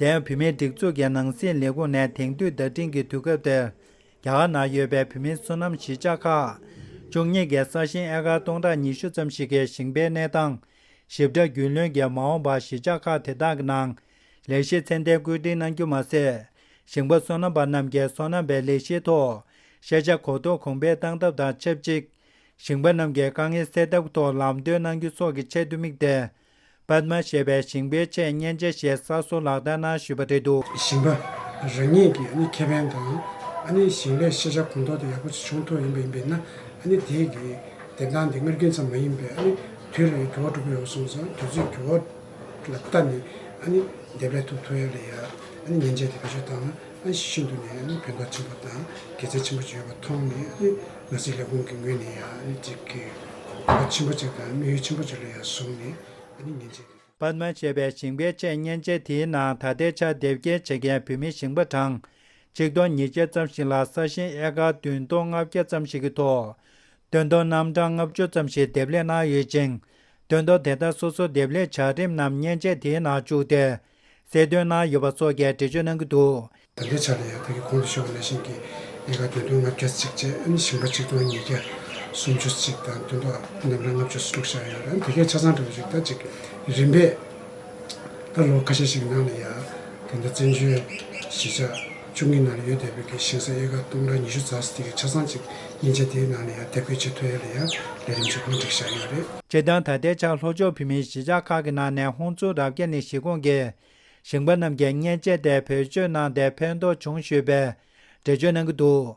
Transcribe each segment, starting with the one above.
དེར་བུད་མེད་སྒྲིག་འཛུགས་ཀྱི་ནང་སྲིད་ལས་ཁུངས་ནས་དེང་དུས་བརྡ་འཕྲིན་གྱི་དུས་སྐབས་དེར། རྒྱ་གར་ནང་ཡོད་པའི་བུད་མེད་བསོད་ནམས་གཞིས་ཆགས་ཁག། བཅུ་གཉིས་ཀྱི་ས་ཞིང་ཨེ་ཀར་སྟོང་ཕྲག་ཉི་ཤུ་ཙམ་ཞིག་གི་ཞིང་པའི་གནས་སྟངས། ཞིབ་ཕྲ་རྒྱུས་ལོན་གྱིས་མ་འོངས་པར་གཞིས་ཆགས་ཁག་དེ་དག་གི་ནང། ལས་གཞི་ཚད་ལྡན་བཀོད་སྒྲིག་གནང་རྒྱུ་མ་ཟད། ཞིང་པ་བསོད་ནམས་པ་རྣམས་ཀྱི་སོ་ནམ་པའི་ལས་གཞིའི་ཐོག། ཤེས་བྱ་གོ་རྟོགས་གོང་འཕེལ་གཏང་ཐབས་དང་ཆབས་ཅིག། ཞིང་པ་རྣམས་ཀྱི་དཀའ་ངལ་སེལ་ཐབས་ཐོག་ལམ་སྟོན་གནང་རྒྱུ་སོགས་ཀྱི་ཆེད་དུ་དམིགས་ཏེ། པདྨ་ཞེས་པའི་ཞིང་པའི་འཆད་ཉན་དཔྱད་གཞིའི་གསར་བཟོ་ལག་བསྟར་གནང་ཞུས་པ་དེ་འདུག། ཞིང་པ་རང་ཉིད་ཀྱི་ཁེ་ཕན་དང་ཞིང་ལས་ཤེས་བྱ་གོང་མཐོར་དང་ཡག་པོ་བྱུང་ཐུབ་ཡོང་པ་ཡིན་པས་ན་དེའི་བདེན་སྟངས་དེ་སྔར་རྒྱུན་ཙམ་མ་ཡིན་པས་དུས་རེར་འགྱུར་བ་འགྲོ་གི་ཡོད་གསུངས་སོང་དུས་ཚོད་འགྱུར་བ་ལ་བལྟ་ནས་དེ་བས་ཐུབ་ཐུབ་ཡག་ལས་ཡག་ཉན་བྱས་ཏེ་བེད་སྤྱོད་བཏང་ན། ཨན་ཞིས་ཤིན་ཏུ་ནས་ཕན་ཐོགས་ཆེན་པོ་དང་དགེ་རྩ་ཆེན་པོ་བྱས་པ་མཐོང་ནས་ང་ཚོའི་ལས་ཁུངས་ཀྱི་ངོས་ནས་ཡང་ཅིག་གིས་གོ་བ་ཆེན་པོ་ཅིག་དང་དམིགས་ཡུལ་ཆེན་པོ་ཅིག་ལ་ཡང་བཟུང་ནས་ཉིན་བྱེད་དེ། པདྨ་ཞེས་པའི་ཞིང་པའི་དཔྱད་བརྙན་ཅན་དེའི་ནང་ད་ལྟའི་ཆར་དེབ་སྐྱེལ་བྱེད་མཁན་བོད་མི་ཞིང་པ་གྲངས་གཅིག་སྟོང་ཉིས་བརྒྱ་ཙམ་ཞིག་ལ་ས་ཞིང་ཨེ་ཀ་བདུན་སྟོང་ལྔ་བརྒྱ་ཙམ་ཞིག་གི་ཐོག་དོན་དོ་རྣམ་གྲངས་ལྔ་བཅུ་ཙམ་ཞིག་དེབ་ལེགས་གནང་ཡོད་ཅིང། དོན་དོ་དེ་དག་སོ་སོ་དེབ་ལེགས་བྱ་རིམ་རྣམས་བརྙན་ཅན་དེའི་ནང་བཅུག་སྟེ། ཟེར་དོན་ན་ཡོད་པ་སོགས་ཀྱི་འགྲེལ་བརྗོད་གནང་གི་འདུག། ད་ལྟའི་ཆར་དུ་ཡང་བོད་ཀྱི་གོང་དུ་བཤད་པ་ལས་གཞན་གྱི་ཡལ་ག་དོན་དུ་ལྔ་བརྒྱ་ཚིགས་བཅད་ཨིན་ཞིང་པ་གཅིག་སྟོང་ཉིས་བརྒྱ་སུམ་ཅུ་ཚིགས་དང་དོན་དུ་འདམ་ར་ལྔ་བཅུ་སུམ་ཅུ་ཤར་ཡོད་ལ་དེ་གའི་ཆ་ཚང་གྲུབ་པ་ཞིག་ད་ཅིག་རིམ་པས་ད་ལོ་ཁ་ཤས་ཤིག་གི་ནང་ལ་ཡང་དེ་འདྲ་བཙན་བྱོལ་གཞིས་ཆགས་བཅུ་གཉིས་ནང་ལ་ཡོད་དེ་བོད་ཀྱི་ཞིང་ས་ཨེ་ཀ་སྟོང་དང་ཉི་ཤུ་རྩ་ཟི་ཐིག་གི་ཆ་ཚང་གཅིག་ཡིན་ཆ་དེའི་ནང་ལ་ཡང་དེབ་སྐོས་ཆེ་མཐོ་ཡོད་ལ་ཡང་ལས་རིམ་ཆེ་གང་མགྲིགས་བཞག་ཡོད་རེད། སྤྱིར་བཏང་ད་ལྟའི་ཆར་ལྷོ་ཕྱོགས་བོད་མིའི་གཞིས་ཆགས་ཁག་གི་ནང་ནས་ཧོང་ཙུའུ་རབ་རྒྱས་ནས་གཞིས་ཁོངས་ཀྱི་ཞིང་པ་རྣམས་ཀྱིས་མཉེན་ཆས་དེ་བེད་སྤྱོད་གནང་སྟེ་ཕན་ཐོགས་བྱུང་ཞུས་པའི་འགྲེལ་བརྗོད་གནང་གི་འདུག་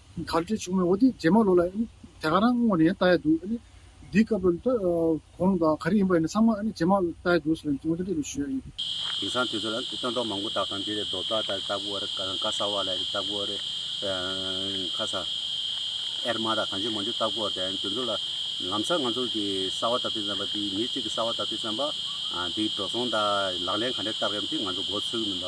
གར་སྤྲོད་བྱུང་བའི་འོ་དེ་རྗེས་མ་ལོ་ལ་དེ་ག་རང་སྔོན་ནས་བལྟ་ཡ་འདུག་འདི་སྐབས་ལོ་ལྟ་གོང་དང་ག་རེ་ཡིན་པ་ཡིན་ན་ཚང་མ་རྗེས་མ་ལོ་ལྟ་ཡ་འདུག་ཟེར་བ་འོ་དེ་འདྲ་ཞུ་ཡ་ཡིན། དེང་སང་དུས་ཚོད་ལ་སྟོན་ཐོག་མང་པོ་བཏགས་དང་འདི་རེད་རྡོ་བཏགས་རེད་སྟག་བུ་རེད་ཀ་ས་བ་ལ་རེད་སྟག་བུ་རེད་ཁ་ས་ཨེར་མ་དང་གང་ཅི་མང་ཅི་སྟག་བུ་རེད་དེ་ཚོ་ལ་ལམ་སང་ང་ཚོ་གི་ས་བ་ད་དུས་ཙམ་པ་འདིའི་མི་གཅིག་གི་ས་བ་ད་དུས་ཙམ་པ་འདིའི་འགྲོ་སོང་དང་ལག་ལེན་ག་འདྲ་བཏགས་ཡོད་མི་ཚེ་ང་ཚོ་མགོ་ཚོས་གི་མིན་པ།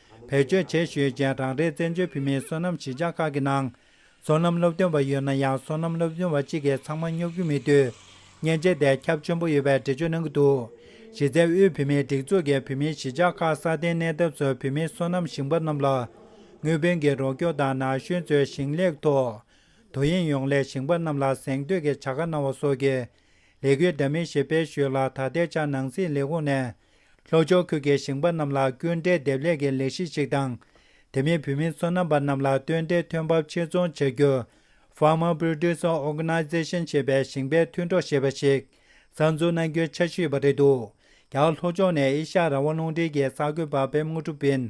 བེད་སྤྱོད་བྱེད་ཞུས་རྗེས་རང་རེའི་བཙན་བྱོལ་བོད་མིའི་སོ་ནམ་གཞིས་ཆགས་ཁག་གི་ནང། སོ་ནམ་སློབ་སྟོན་པ་ཡོད་ན་ཡང་སོ་ནམ་སློབ་སྦྱོང་བ་གཅིག་གིས་ཚང་མ་སྙོབ་རྒྱུ་མེད་དུས། མཉེན་ཆས་དེ་ཁྱབ་ཆེན་པོ་ཡོད་པའི་འགྲེལ་བརྗོད་གནང་གི་འདུག་གཞི་རྩའི་དབུས་བོད་མིའི་སྒྲིག་འཛུགས་ཀྱིས་བོད་མིའི་གཞིས་ཆགས་ཁག་སྲ་བརྟན་གནས་ཐབས་སུ་བོད་མིའི་སོ་ནམ་ཞིང་པ་རྣམས་ལ། དངུལ་བུན་གྱི་རོགས་སྐྱོར་དང་ན་གཞོན་ཚོའི་ཞིང་ལས་ཐོག་དོ་དབྱིངས་ཡོངས་ལས་ཞིང་པ་རྣམས་ལ་གཟེངས་བསྟོད་ཀྱི་བྱ་དགའ་གནང་བ་སོགས་ཀྱི་ལས་འགུལ་འདྲ་མིན་ཞིག་སྤེལ་ཞུས་ལ་ད་ལྟའི་ཆར་ནང་སྲིད་ལས་ཁུངས་ནས་ལྷོ་ཕྱོགས་ཁུལ་གྱི་ཞིང་པ་རྣམས་ལ་སྐྱོན་བྲལ་སྡེབ་ལེགས་ཀྱི་ལས་གཞི་ཞིག་དང། དེ་མིན་བུད་མེད་ཚོ་ནང་པ་རྣམས་ལ་སྟོན་བདེའི་ཐོན་འབབ་ཕྱིར་འཚོང་བྱ་རྒྱུ། Farmer Producer Organization། ཞེས་པའི་ཞིང་པའི་མཐུན་གྲོགས་ཞེས་པ་ཞིག་གསར་འཛུགས་གནང་རྒྱུའི་འཆར་གཞི་ཡོད་པ་རེད་འདུག་ཀྱང་ལྷོ་ཕྱོགས་ནས་ཨེ་ཤ་ཡ་རང་དབང་རླུང་འཕྲིན་གྱི་གསར་འགོད་པ་བེམ་དངོས་གྲུབ་བིན།